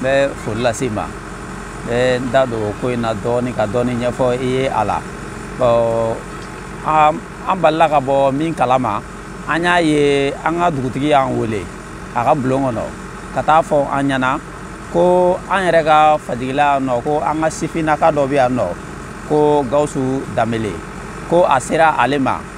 n bɛ foli lase i ma n bɛ n da don ko in na dɔɔnin ka dɔɔnin ɲɛfɔ i ye a la bɔn an balila ka bɔ min kala ma an y'a ye an ka dugutigi y'an wele a ka bulon kɔnɔ ka taa fɔ an ɲɛna ko an yɛrɛ ka fajigila yan nɔ ko an ka sifinnaka dɔ bɛ yan nɔ ko gawusu danbele ko a sera ale ma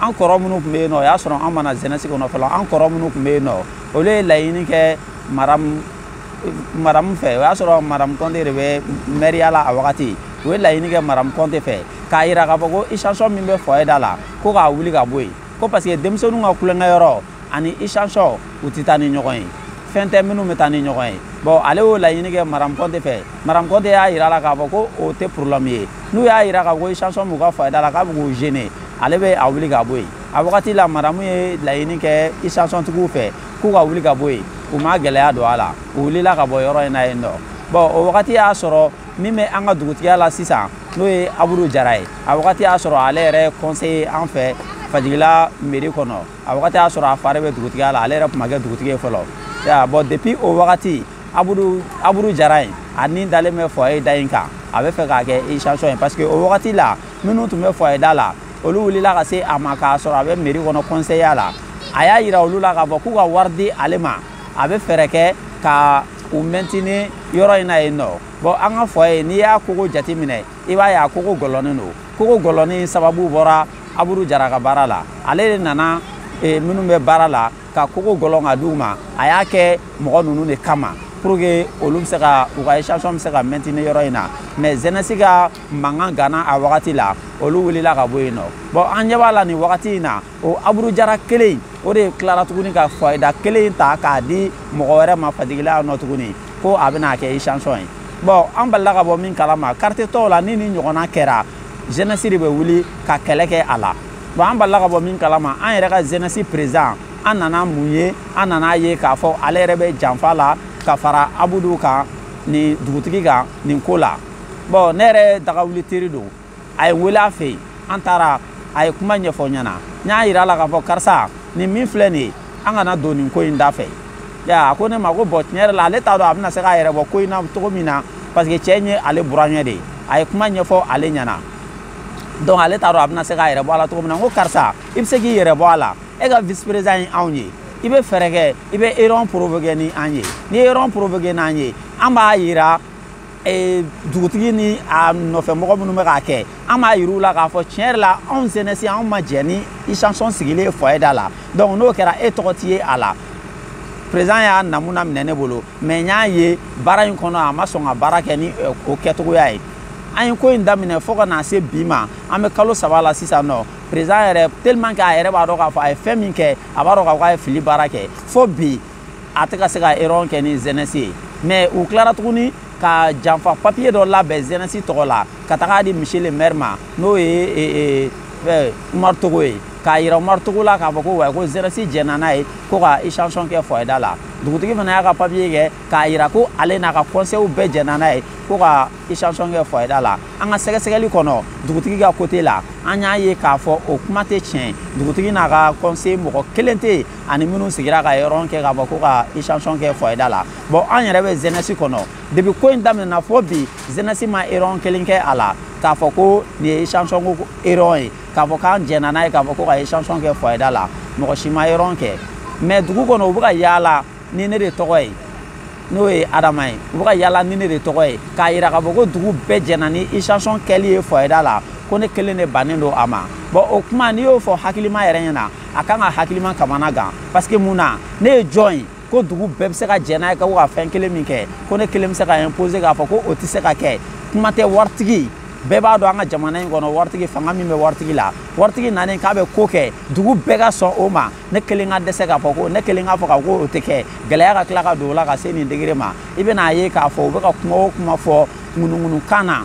an kɔrɔ minnu tun bɛ yen nɔ o y'a sɔrɔ an ma na zɛnɛsi kɔnɔ fɔlɔ an kɔrɔ minnu tun bɛ yen nɔ olu ye laɲini kɛ madamu fɛ o y'a sɔrɔ madamu kɔnte de bɛ mɛriya la a wagati u ye laɲini kɛ madamu kɔnte fɛ k'a yira k'a fɔ ko isansɔn min bɛ fɔye da la ko k'a wuli ka bɔ yen ko parce que denmisɛnninw ka tulonkɛ yɔrɔ ani isansɔn u tɛ taa ni ɲɔgɔn ye fɛn tɛ minnu bɛ taa ni ɲɔgɔn ye bɔn ale y'o laɲini kɛ madamu kɔnte fɛ madamu kɔnte y'a yira a la k'a fɔ ko o tɛ problème ye n'u y'a yira k'a fɔ ko isansɔn b'u ka fɔye da la k'a bɛ k'u gêner ale bɛ a wuli ka bɔ yen a wagati la madamu ye laɲini kɛ isansɔntigiw fɛ k'u ka wuli ka bɔ yen u ma gɛlɛya don a la u wulila ka bɔ yɔrɔ in na yen nɔ bɔn o wagati y'a sɔrɔ min bɛ an ka dugutigiya la sisan n'o ye abudu jara ye a wagati y'a sɔrɔ ale yɛrɛ kɔnseye an fɛ fajigila meri kɔnɔ a wagati y'a sɔrɔ a fa de bɛ dugutigiya la ale yɛrɛ tun ma kɛ dugutigi ye fɔlɔ bɔn depuis o wagati abudu jara in a ni dalen bɛ fɔye da in kan a b'a fɛ k'a kɛ isansiɔn ye parce que o wagati la minnu tun bɛ fɔye da la olu wulila ka se a ma k'a sɔrɔ a bɛ meri kɔnɔ kɔnsɛya la a y'a yira olu la k'a fɔ k'u ka wari di ale ma a bɛ fɛɛrɛ kɛ ka u mɛntini yɔrɔ in na yen nɔ bɔn an ka fɔye n'i y'a kogo jate minɛ i b'a ye a kogo gɔlɔnnen don kogo gɔlɔnnen sababu bɔra abudu jara ka baara la ale de nana e, minnu bɛ baara la ka kogo gɔlɔn ka d'u ma a y'a kɛ mɔgɔ ninnu de kama pour que olu bɛ se ka u ka isansiɔn bɛ se ka maintenir yɔrɔ in na mais zenɛsi ka mankan ganna a wagati la olu wulila ka bɔ yen nɔ bon an ɲɛ b'a la nin wagati in na o abudu jara kelen in o de tilara tuguni ka fɔye da kelen in ta k'a di mɔgɔ wɛrɛ ma fajigila yan nɔ tuguni ko a bɛna kɛ isansiɔn ye bon an balila ka bɔ min kalama quartier tɔw la ni nin ɲɔgɔnna kɛra jenɛsi de bɛ wuli ka kɛlɛ kɛ a la bon an balila ka bɔ min kalama an yɛrɛ ka jenɛsi perezan an nana mun ye an nana a ye k'a fɔ ale yɛrɛ bɛ janfa la ka fara abudu kan nin dugutigi kan nin ko la bɔn ne yɛrɛ dagawuli teri don a ye n wele a fɛ yen an taara a ye kuma ɲɛfɔ n ɲɛna n y'a yira a la k'a fɔ karisa nin min filɛ nin ye an kana don nin ko in da fɛ a ko ne ma ko bɔn tiɲɛ yɛrɛ la ale t'a dɔn a bɛna se k'a yɛrɛ bɔ ko in na cogo min na parce que cɛ in ye ale burankɛ de ye a ye kuma ɲɛfɔ ale ɲɛna donc ale t'a dɔn a bɛna se k'a yɛrɛ bɔ a la cogo min na n ko karisa i bɛ se k'i yɛrɛ bɔ a la e ka vice président ye anw ye i bɛ fɛɛrɛ kɛ i bɛ réunion provoquer ni an ye n'i ye réunion provoquer n'an ye an b'a yira dugutigi ni a nɔfɛ mɔgɔ minnu bɛ k'a kɛ an b'a yir'u la k'a fɔ tiɲɛ yɛrɛ la anw jeunesse anw ma jɛn ni station sigili ye foyer da la donc n'o kɛra e tɔgɔ ti ye a la président y'a namuna minɛ ne bolo mais n y'a ye baara in kɔnɔ a ma sɔn ka baara kɛ ni o kɛcogoya ye an ye ko in daminɛ fo ka na se bi ma an bɛ kalo saba la sisan nɔ président yɛrɛ tellement que a yɛrɛ b'a dɔn k'a fɔ a ye fɛn min kɛ a b'a dɔn k'a fɔ a ye fili baara kɛ fo bi a tɛ ka se ka réunion kɛ ni jeunesse ye mais u tilara tuguni ka janfa papiye dɔ labɛn jeunesse tɔgɔ la ka taga di monsieur le maire ma n'o ye umaru togo ye k'a yira umaru togo la k'a fɔ ko wa ko jeunesse jɛnna n'a ye ko ka station kɛ foyer da la dugutigi fana y'a ka papiye kɛ k'a yira ko ale n'a ka conseilw bɛɛ jɛnna n'a ye ko ka station kɛ foyer da la an ka sɛgɛsɛgɛli kɔnɔ dugutigi ka côté la an y'a ye k'a fɔ o kuma tɛ tiɲɛ dugutigi n'a ka conseil mɔgɔ kelen tɛ yen ani minnu sigira ka réunion kɛ k'a fɔ ko ka station kɛ foyer da la bon an yɛrɛ bɛ jeunesse kɔnɔ depuis ko in daminɛna fo bi jeunesse ma réunion kelen kɛ a la k'a fɔ ko nin ye station ko réunion ye k'a fɔ k'an jɛnna n'a ye k'a fɔ ko ka station kɛ foyer da la mɔgɔ si ma réunion kɛ mais dugu kɔnɔ u bɛ ka yaala ni ne de tɔgɔ ye n'o ye adama ye u bɛ ka yaala ni ne de tɔgɔ ye k'a yira k'a fɔ ko dugu bɛɛ jɛnna ni station kɛli ye foyer da la ko ne kelen de bannen don a ma bon o kuma n'i y'o fɔ hakilima yɛrɛ ɲɛna a kan ka hakilima kamana gan parce que mun na ne ye jɔn ye ko dugu bɛɛ bɛ se ka jɛn n'a ye ka ko ka fɛn kelen min kɛ ko ne kelen bɛ se ka imposer k'a fɔ ko o tɛ se ka kɛ kuma tɛ waritigi bɛɛ b'a dɔn an ka jamana in kɔnɔ waritigi fanga min bɛ waritigi la waritigi nanen k'a bɛ ko kɛ dugu bɛɛ ka sɔn o ma ne kelen ka dɛsɛ k'a fɔ ko ne kelen k'a fɔ ka ko o tɛ kɛ gɛlɛya ka tila ka don o la ka se nin degré ma i bɛna a ye k'a fɔ u bɛ ka kuma o kuma fɔ ŋunuŋunukan na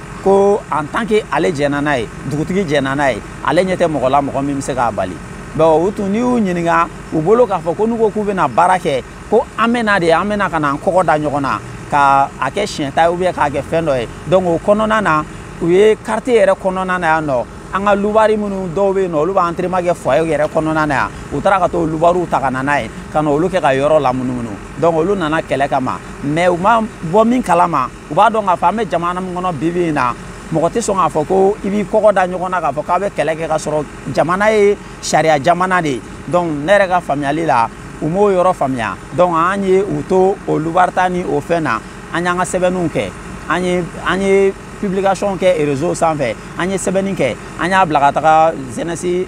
ko en tant que ale jɛnna n'a ye dugutigi jɛnna n'a ye ale ɲɛ tɛ mɔgɔ la mɔgɔ min bɛ se k'a bali bon u tun n'i y'u ɲininka u bolo k'a fɔ ko n'u ko k'u bɛna baara kɛ ko an bɛna de an bɛna ka na an kɔgɔ da ɲɔgɔn na ka a kɛ siɲɛta ye ou bien k'a kɛ fɛn dɔ ye donc o kɔnɔna na u ye quartier yɛrɛ kɔnɔna na yan nɔ an ka lubari minnu dɔw bɛ yen nɔ olu bɛ entraînement kɛ foyer yɛrɛ kɔnɔna na yan u taara ka t'o lubariw ta ka na n'a ye ka na olu kɛ ka yɔrɔ lamunumunu donc olu nana kɛlɛ kama mais u ma bɔ min kalama u b'a dɔn k'a fɔ an bɛ jamana min kɔnɔ bibi in na mɔgɔ tɛ sɔn k'a fɔ ko i b'i kɔgɔ da ɲɔgɔn na k'a fɔ k'a bɛ kɛlɛ kɛ ka sɔrɔ jamana ye sariya jamana de ye donc ne yɛrɛ ka faamuyali la u m'o yɔrɔ faamuya donc an ye u to o lubarita ni o fɛn na an y'an ka sɛbɛnniw kɛ an ye publication kɛ réseau sanfɛ an ye sɛbɛnni kɛ an y'a bila ka taga jeunesse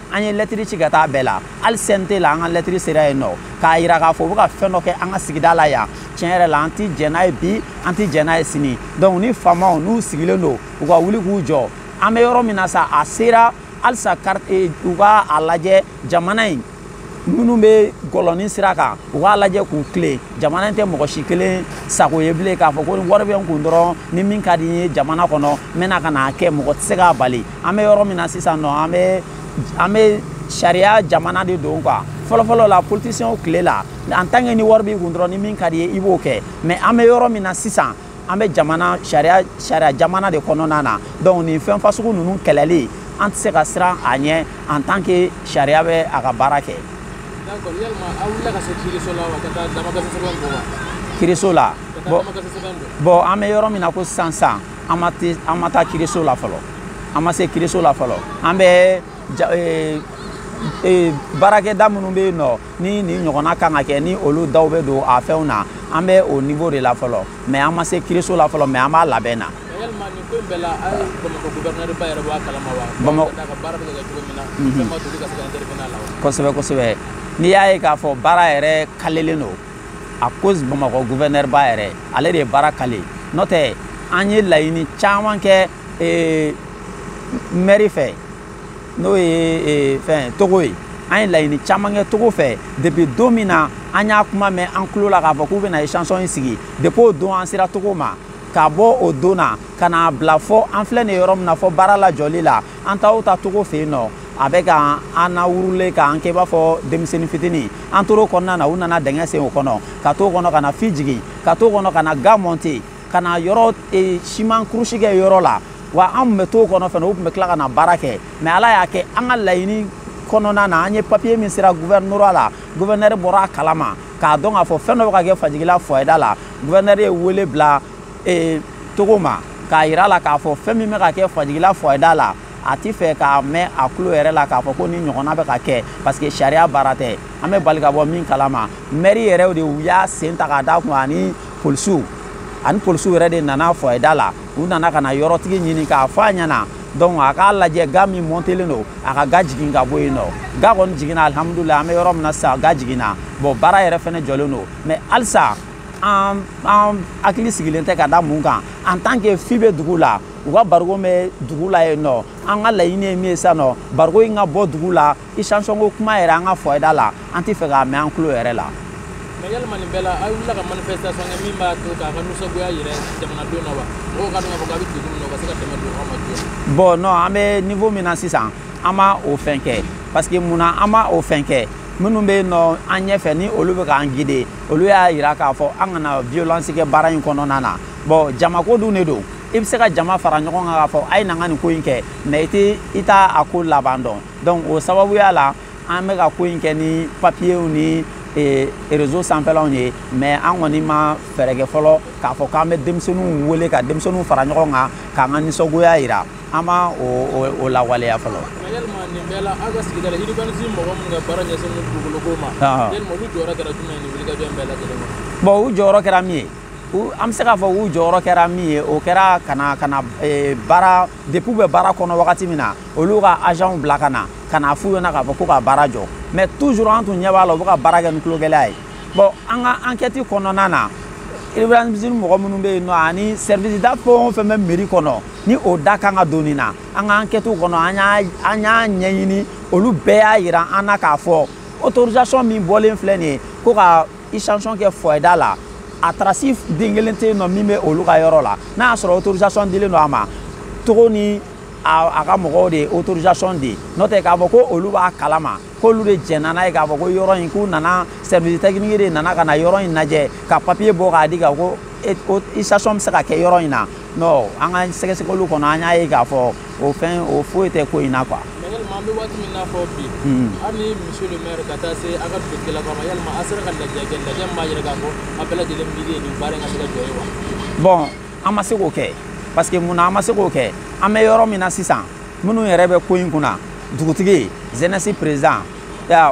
an ye lɛtiri ci ka taa bɛɛ la hali CNT la an ka lɛtiri sera yen nɔ k'a yira k'a fɔ u bɛ ka fɛn dɔ kɛ an ka sigida la yan tiɲɛ yɛrɛ la an ti jɛn n'a ye bi an ti jɛn n'a ye sini donc ni faamaw n'u sigilen don u ka wuli k'u jɔ an bɛ yɔrɔ min na sa a sera halisa eh, u ka a lajɛ jamana in minnu bɛ gɔlɔni sira kan u k'a lajɛ k'u tilen jamana in tɛ mɔgɔ si kelen sago ye bilen k'a fɔ ko wari bɛ n kun dɔrɔn ni min ka di n ye jamana kɔnɔ n bɛna ka n'a kɛ mɔgɔ tɛ se k'a bali an bɛ yɔrɔ min na sisan nɔ an bɛ an bɛ sariya jamana de don quoi fɔlɔfɔlɔ la politisiɲɛw tile la en tant que ni wari b'i kun dɔrɔn ni min ka d'i ye i b'o kɛ mais an bɛ yɔrɔ min na sisan an bɛ jamana sariya sariya jamana de kɔnɔna na donc nin fɛn fasugu ninnu kɛlɛli an tɛ se ka siran a ɲɛ en tant que sariya bɛ a ka baara kɛ. d'accord yalima aw wulila ka se kiriso la wa ka taa damakasi sɛbɛn bɔ wa. kiriso la bon an bɛ yɔrɔ min na ko sisan sisan. an ma taa kiriso la fɔlɔ an ma se kiriso la fɔlɔ an bɛ e, e, baarakɛda minnu bɛ yen nɔ ni nin ɲɔgɔnna kan ka kɛ ni olu daw bɛ don a fɛnw na an bɛ o nivo de la fɔlɔ mɛ an ma se kiriso la fɔlɔ mɛ an b'a labɛn na kosɛbɛ kosɛbɛ n'i y'a ye k'a fɔ baara yɛrɛ kalelen don à cause bamakɔ gouverneur ba yɛrɛ ale de ye baara kale n'o tɛ an ye laɲini caman kɛ eh, mɛri fɛ n'o ye eh, fɛn togo ye an ye laɲini caman kɛ togo fɛ depuis don min na an y'a kuma mɛn an tulo la k'a fɔ k'u bɛna station in sigi depuis o don an sera togo ma ka bɔ o don na ka n'a bila fɔ an filɛ nin yɔrɔ min na fɔ baara lajɔli la an taa o taa togo fɛ yen nɔ a bɛ ka an nawurule k'an kɛ i b'a fɔ denmisɛnnin fitinin an tor'o kɔnɔna na u nana dingɛ sen o kɔnɔ ka t'o kɔnɔ ka na fi jigin ka t'o kɔnɔ ka na ga mɔnte ka na yɔrɔ e, siman kurusi kɛ yɔrɔ la wa an tun bɛ t'o kɔnɔ fana u tun bɛ tila ka na baara kɛ mais ala y'a kɛ an ka laɲini kɔnɔna na an ye papiye min sera guvɛrinɛri la guvɛrinɛri bɔra a kalama k'a dɔn k'a fɔ fɛn dɔ bɛ ka kɛ fajigila foyer da la guvɛrinɛri ye wele bila ee togo ma k'a yir'a la k'a fɔ fɛn min bɛ ka kɛ fajigila foyer da la a ti fɛ k'a mɛn a tulo yɛrɛ la k'a fɔ ko nin ɲɔgɔnna bɛ ka kɛ parce que sariya baara tɛ an bɛ bali ka bɔ min kalama mɛri yɛrɛ de u y'a sen ta k'a d'a kun ani polisiw ani polisiw yɛrɛ de nana foyer da la u nana ka na yɔrɔtigi ɲini k'a fɔ a ɲɛna donc a k'a lajɛ ga min mɔntelen don a ka ga jigin ka bɔ yen nɔ ga kɔni jiginna alihamudulila an bɛ yɔrɔ min na sisan ga jiginna bon baara yɛrɛ fɛnɛ jɔlen don mais halisa an an hakili sigilen tɛ ka da mun kan en tant que fût bɛ dugu la u ka bariko bɛ dugu la yen nɔ an ka laɲini ye min ye sisan nɔ bariko in ka bɔ dugu la station ko kuma yɛrɛ an ka foyer da la an tɛ fɛ k'a mɛn an tulo yɛrɛ la mais yalima nin bɛɛ la aw wulila ka manifestation kɛ min b'a to k'a ka nisɔngoya yira jamanadenw na wa mɔgɔw ka dɔn k'a fɔ k'a bɛ degun min na u ka se ka dɛmɛ don aw ma joona bon non an bɛ niveau min na sisan an ma o fɛn kɛ parce que mun na an ma o fɛn kɛ minnu bɛ yen nɔ an ɲɛfɛ ni olu bɛ k'an guider olu y'a yira k'a fɔ an kana violence kɛ baara in kɔnɔna na bon jamako dun de don i bɛ se ka jama fara ɲɔgɔn kan k'a fɔ a ye na an ka nin ko in kɛ mais i tɛ i t'a a ko laban dɔn donc o sababuya la an bɛ ka ko in kɛ ni papiyew ni e, rezo sanfɛlaw ye mais an kɔni ma fɛɛrɛ kɛ fɔlɔ k'a fɔ k'an bɛ denmisɛnninw wele ka denmisɛnninw fara ɲɔgɔn kan k'an ka nisɔngoya yira an ma o lawaleya fɔlɔ yalima nin bɛɛ la aw ka sigida la urbanisme mɔgɔ minnu ka baara ɲɛsinnen bɛ dugukoloko ma yalima olu jɔyɔrɔ kɛra jumɛn ye nin wulikajɔ in bɛɛ lajɛlen na bon u jɔyɔrɔ kɛra min ye an bɛ se k'a fɔ u jɔyɔrɔ kɛra min ye o kɛra ka na ka na e, baara depuis u bɛ baara kɔnɔ wagati min na olu ka agentw bila ka na ka na f'u ɲɛna k'a fɔ ko ka baara jɔ mais toujours an tun ɲɛ b'a la u bɛ ka baara kɛ ni tulogɛlɛya ye bon an ka ankɛti kɔnɔna na urbanisme mɔgɔ minnu bɛ yen nɔ ani service da fɛn o fɛn bɛ mairie kɔnɔ ni o da kan ka don nin na an ka ankɛtiw kɔnɔ an y'a ɲɛɲini olu bɛɛ y'a yira an na k'a fɔ autorisation min bɔlen filɛ nin ye ko ka station kɛ foyer da la a trace den kelen tɛ yen nɔ min bɛ olu ka yɔrɔ la n'a y'a sɔrɔ autorisation dilen don a ma togo ni a ka mɔgɔw de ye autorisation di n'o tɛ k'a fɔ ko olu b'a kalama k'olu de jɛnna n'a ye k'a fɔ ko yɔrɔ in k'u nana service technique de nana ka na yɔrɔ in lajɛ ka papier bɔ k'a di ka ko ko station bɛ se ka kɛ yɔrɔ in na non an ka sɛgɛsɛgɛliw kɔnɔ an y'a ye k'a fɔ o fɛn o foyi tɛ ko in na quoi. yalima an bɛ waati min na fɔ bi hali ni monsieur le maire ka taa se a ka dugutigilakaw ma yalima a sera ka lajɛ kɛ lajɛ min b'a yira k'a fɔ a bɛɛ lajɛlen miiri ye nin baara in ka se ka jɔ ye wa. bon an ma se k'o kɛ parce que mun na an ma se k'o kɛ an bɛ yɔrɔ min na sisan. minnu yɛrɛ bɛ ko in kunna dugutigi jeunesse président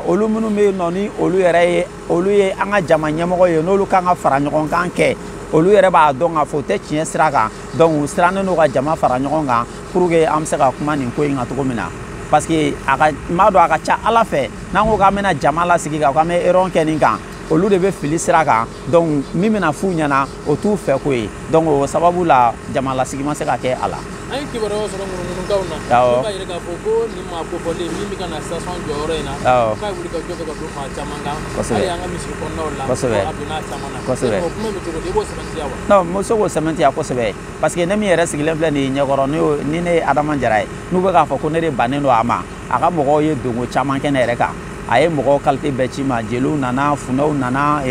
olu minnu bɛ yen nɔ ni olu yɛrɛ ye olu ye an ka jama ɲɛmɔgɔ ye n'olu kan ka fara ɲɔgɔn kan kɛ olu yɛrɛ b'a dɔn k'a fɔ u tɛ tiɲɛ sira kan donc u sirannen don ka jama fara ɲɔgɔn kan pour que an bɛ se ka kuma nin ko in kan cogo min na parce que a ka n b'a dɔn a ka ca a la fɛ n'an ko k'an bɛna jama lasigi k'an k'an bɛ réunion kɛ nin kan olu de bɛ fili sira kan donc min bɛna f'u ɲɛna o t'u fɛ ko ye donc o sababu la jama lasigi ma se ka kɛ a la an ye kibaruyaw sɔrɔ ŋunuŋunukanw na min b'a yira k'a fɔ ko nin maa kofɔlen min bɛ ka na station jɔ yɔrɔ in na k'a ye wulikajɔ kɛ ka don maa caman kan hali an ka misiri kɔnɔnaw la kosɛbɛ a donna a caman na kosɛbɛ o kuma bɛ cogo di i b'o sɛmɛntiya wa non n bɛ se k'o sɛmɛntiya kosɛbɛ parce que ne min yɛrɛ sigilen filɛ nin ye ɲɛkɔrɔ ni ne ye adama jara ye n'u bɛ k'a fɔ ko ne de bannen don a ma a ka mɔgɔw ye donko caman kɛ ne yɛrɛ kan a ye mɔgɔw kalite bɛɛ ci n ma jeliw nana funɛw nana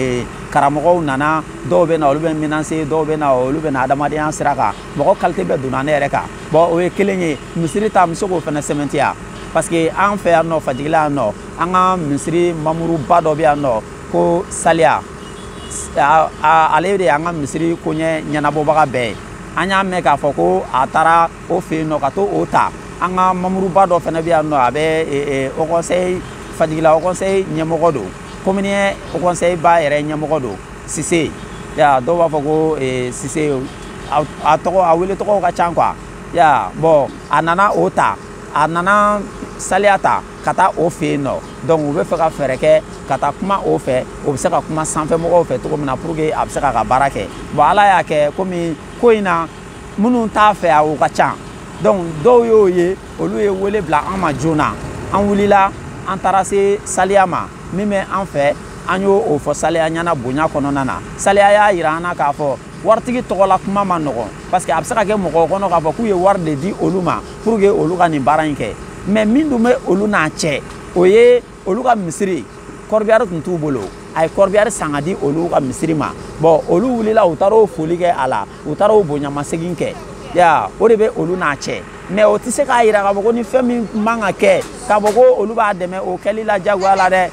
karamɔgɔw nana dɔw bɛ na olu bɛ menacer dɔw bɛ na olu bɛ na adamadenya sira kan mɔgɔ kalite bɛɛ donna ne yɛrɛ kan bɔn o ye kelen ye misiri ta n bɛ se k'o fana sɛmɛntiya parce que an fɛ yan nɔ fajigila yan nɔ an ka misiri mamuruba dɔ bɛ yan nɔ ko saliya ale de y'an ka misiri koɲɛ ɲɛnabɔbaga bɛɛ ye an y'a mɛn k'a fɔ ko a taara o fɛ yen nɔ ka t'o ta an ka mamuruba dɔ fana bɛ yan nɔ a bɛ haut conseil fajigila haut conseil ɲɛmɔgɔ don commune un haut conseil ba yɛrɛ ɲɛmɔgɔ don sise ya dɔw b'a fɔ ko eh, sise a tɔgɔ a wele tɔgɔw ka ca quoi ya bɔn a nana o ta a nana saliya ta ka taa o fɛ yen nɔ donc u bɛ fɛ ka fɛɛrɛ kɛ ka taa kuma o fɛ o bɛ se ka kuma sanfɛmɔgɔw fɛ cogo min na pour que a bɛ se k'a ka baara kɛ bɔn ala y'a kɛ komi ko in na minnu t'a fɛ a o ka ca donc dɔw y'o ye olu ye wele bila an ma joona an wulila an taara se saliya ma min bɛ an fɛ an y'o fɔ saliya ɲɛna bonya kɔnɔna na saliya y'a yira an na k'a fɔ waritigi tɔgɔla kuma man nɔgɔn parce que a bɛ se ka kɛ mɔgɔw kɔnɔ k'a fɔ k'u ye wari de di olu ma pour que olu ka nin baara in kɛ mais min dun bɛ olu n'a cɛ o ye olu ka misiri kɔrɔbiyari tun t'u bolo a ye kɔrɔbiyari san ka di olu ka misiri ma bɔn olu wulila u taar'o foli kɛ a la u taar'o bonyamasegin kɛ ya o de bɛ olu n'a cɛ mais o tɛ se k'a yira k'a fɔ ko ni fɛn min man ka kɛ k'a fɔ ko olu b'a dɛmɛ o kɛli la jagoya la dɛ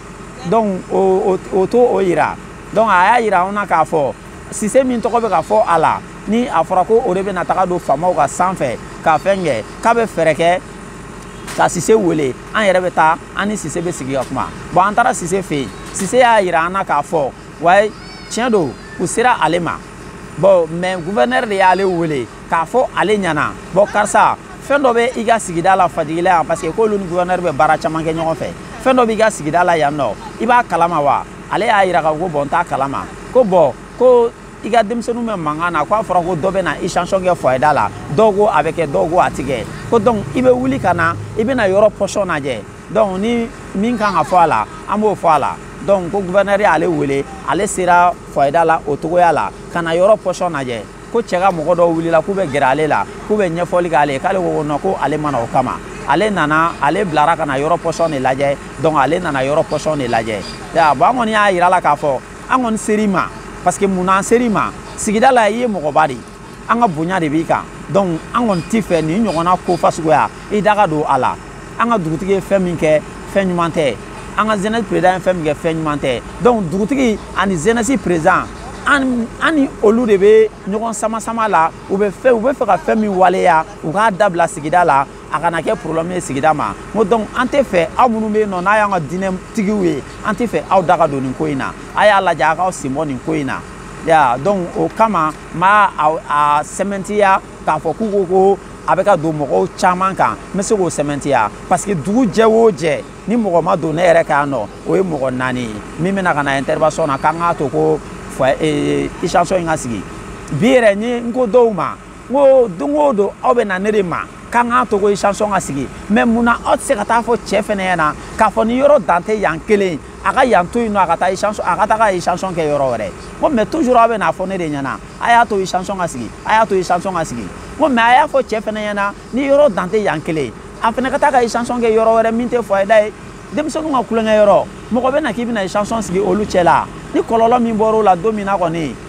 donc o t'o yira donc a y'a yira anw na k'a fɔ sise min tɔgɔ bɛ ka fɔ a la ni a fɔra ko o de bɛna taga don faamaw kan sanfɛ ka fɛn kɛ k'a bɛ fɛɛrɛ kɛ ka sise wele an yɛrɛ bɛ taa an ni sise bɛ sigi ka kuma bɔn an taara sise fɛ yen sise y'a yira an na k'a fɔ wayi tiɲɛ don k'u sera ale ma bɔn mais guvɛnɛri de y'ale wele k'a fɔ ale ɲɛna bɔn karisa fɛn dɔ bɛ i ka sigida la fajigila yan parce que k'olu ni guvɛnɛri bɛ baara caman kɛ ɲɔgɔn fɛ fɛn dɔ b'i ka sigida la yan nɔ i b'a kalama wa ale y'a yira k'a fɔ ko bɔn n t'a kalama ko bɔn ko i ka denmisɛnninw bɛ mankan na k'a fɔra ko dɔ bɛ na station kɛ foyer da la dɔw ko a bɛ kɛ dɔw ko a tɛ kɛ ko donc i bɛ wuli ka na i bɛna yɔrɔ position lajɛ donc ni min kan ka fɔ a la an b'o fɔ a la donc ko guvɛnɛri y'ale wele ale sera foyer da la o cogoya la ka na yɔrɔ position lajɛ ko cɛ ka mɔgɔ dɔw wulila k'u bɛ gɛrɛ ale la k'u bɛ ɲɛfɔli k'ale ye k'ale ko non ko ale ma na o kama ale nana ale bilara ka na yɔrɔ position de lajɛ donc ale nana yɔrɔ position de lajɛ bon an kɔni y'a yira a la k'a fɔ an kɔni ser'i ma parce que mun na an ser'i ma sigida la i ye mɔgɔba de ye an ka bonya de b'i kan donc an kɔni t'i fɛ nin ɲɔgɔnna ko fasuguya i da ka don a la an ka dugutigi ye fɛn min kɛ fɛn ɲuman tɛ an ka jeunesse président ye fɛn min kɛ fɛn ɲuman tɛ donc dugutigi ani jeunesse président an ni olu de bɛ ɲɔgɔn sama sama la u bɛ fɛ u bɛ fɛ ka fɛn min waleya u k'a dabila sigida la a kana kɛ problème ye sigida ma n ko donc an tɛ fɛ aw minnu bɛ yen nɔ n'a y'an ka diinɛtigiw ye an tɛ fɛ aw da ka don nin ko in na a y'a lajɛ a k'aw sen bɔ nin ko in na ya donc o kama n b'a a sɛmɛntiya k'a fɔ k'u ko ko a bɛ ka don mɔgɔw caman kan n bɛ se k'o sɛmɛntiya parce que dugu jɛ o jɛ ni mɔgɔ ma don ne yɛrɛ kan yan nɔ o ye mɔgɔ naani ye min bɛna ka na intervention na k'an k'a to ko station in ka sigi bi yɛrɛ ne n ko dɔw ma n ko don o don aw bɛ na ne de ma k'an k'a to ko station ka sigi mais mun na aw tɛ se ka taa fɔ cɛ fɛnɛ ɲɛna k'a fɔ ni yɔrɔ dan tɛ yan kelen a ka yan to yen nɔ a ka taa station a ka taa ka station kɛ yɔrɔ wɛrɛ ko mais toujours aw bɛ n'a fɔ ne de ɲɛna a y'a to station ka sigi a y'a to station ka sigi ko mais a y'a fɔ cɛ fɛnɛ ɲɛna ni yɔrɔ dan tɛ yan kelen a fɛnɛ ka taa ka station kɛ yɔrɔ wɛrɛ min tɛ foyer da ye denmisɛnninw ka tulonkɛ yɔrɔ mɔgɔ bɛ na k'i bɛna station sigi olu cɛ la ni kɔlɔlɔ min bɔr'o la don min na kɔni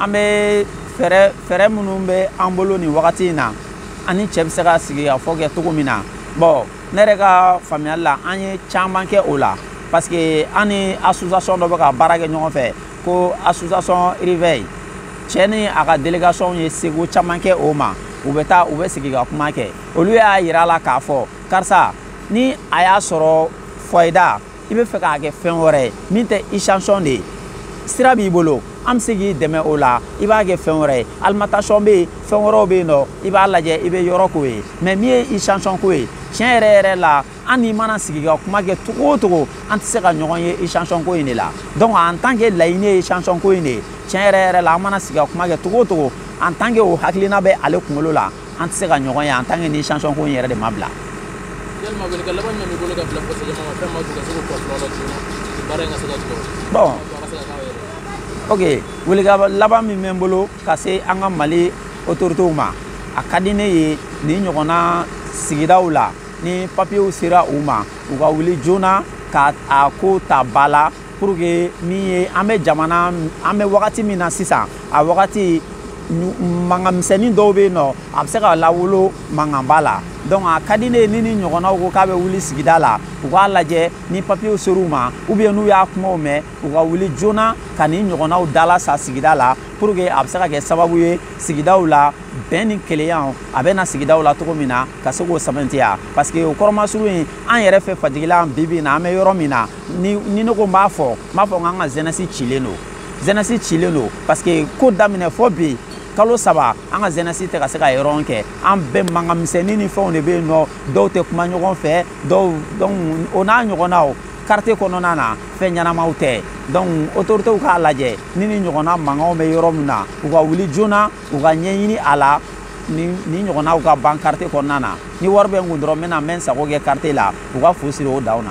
an bɛ fɛɛrɛ fɛɛrɛ minnu bɛ an bolo nin wagati in na a ni cɛ bɛ se ka sigi ka fɔ kɛ cogo min na bon ne yɛrɛ ka faamuyali la an ye caman kɛ o la parce que an ni association dɔ bɛ ka baara kɛ ɲɔgɔn fɛ ko association réveil cɛ ni a ka délégation ye seko caman kɛ o ma u bɛ taa u bɛ sigi ka kuma kɛ olu y'a yira a la k'a fɔ karisa ni a y'a sɔrɔ foyer da i bɛ fɛ k'a kɛ fɛn wɛrɛ ye min tɛ station de ye sira b'i bolo an bɛ se k'i dɛmɛ o la i b'a kɛ fɛn wɛrɛ ye alimentation bɛ yen fɛn wɛrɛw bɛ yen nɔ i b'a lajɛ i bɛ yɔrɔ k'o ye mais min ye station ko ye tiɲɛ yɛrɛ yɛrɛ la an n'i mana sigi ka kuma kɛ cogo o cogo an tɛ se ka ɲɔgɔn ye station ko in de la donc en tant que laɲini ye station ko in de ye tiɲɛ yɛrɛ yɛrɛ la an mana sigi ka kuma kɛ cogo o cogo en tant que o hakilina bɛ ale kunkolo la an tɛ se ka ɲɔgɔn ye en tant que ni station ko in yɛrɛ de ma bila yalima welekan laban jumɛn b'i bolo ka bila ka se jama ma fɛn ma ka se k'u kɔlɔlɔ la joona baara in ka se ka jɔ bon ok welekan laban min bɛ n bolo ka se an ka mali otoritew ma a ka di ne ye nin ɲɔgɔnna sigidaw la ni papiyew sera u ma u ka wuli joona ka a ko ta ba la pour que min ye an bɛ jamana an bɛ wagati min na sisan a wagati mankan misɛnnin dɔw bɛ yen nɔ a bɛ se ka lawolo mankanba la donc a ka di ne ye ni nin ɲɔgɔnnaw ko k'a bɛ wuli sigida la u k'a lajɛ ni papiyew ser'u ma ou bien n'u y'a kumaw mɛn u ka wuli joona ka nin ɲɔgɔnnaw dalasa sigida la pour que a bɛ se ka kɛ sababu ye sigidaw la bɛn ni kelenyaw a bɛ na sigidaw la cogo min na ka se k'o sɛbɛntiya parce que o kɔrɔmasuru in an yɛrɛ fɛ fajigila bi bi in na an bɛ yɔrɔ min na ni ni ne ko n b'a fɔ n b'a fɔ n k'an ka jeunesse cilen don jeunesse cilen don parce que ko daminɛ fɔ bi kalo saba an ka jeunesse tɛ ka se ka yɔrɔ kɛ an bɛɛ mankan misɛnnin ni fɛnw de bɛ yen nɔ dɔw tɛ kuma ɲɔgɔn fɛ dɔw donc o n'a ɲɔgɔnnaw quartier kɔnɔna na fɛn ɲɛnamaw tɛ donc autoritéw k'a lajɛ ni nin ɲɔgɔnna mankanw bɛ yɔrɔ min na u ka wuli joona u ka ɲɛɲini a la nin ɲɔgɔnnaw ka ban quartier kɔnɔna na ni wari bɛ n kun dɔrɔn n bɛna n bɛ n sago kɛ quartier la u ka fu siri o dan na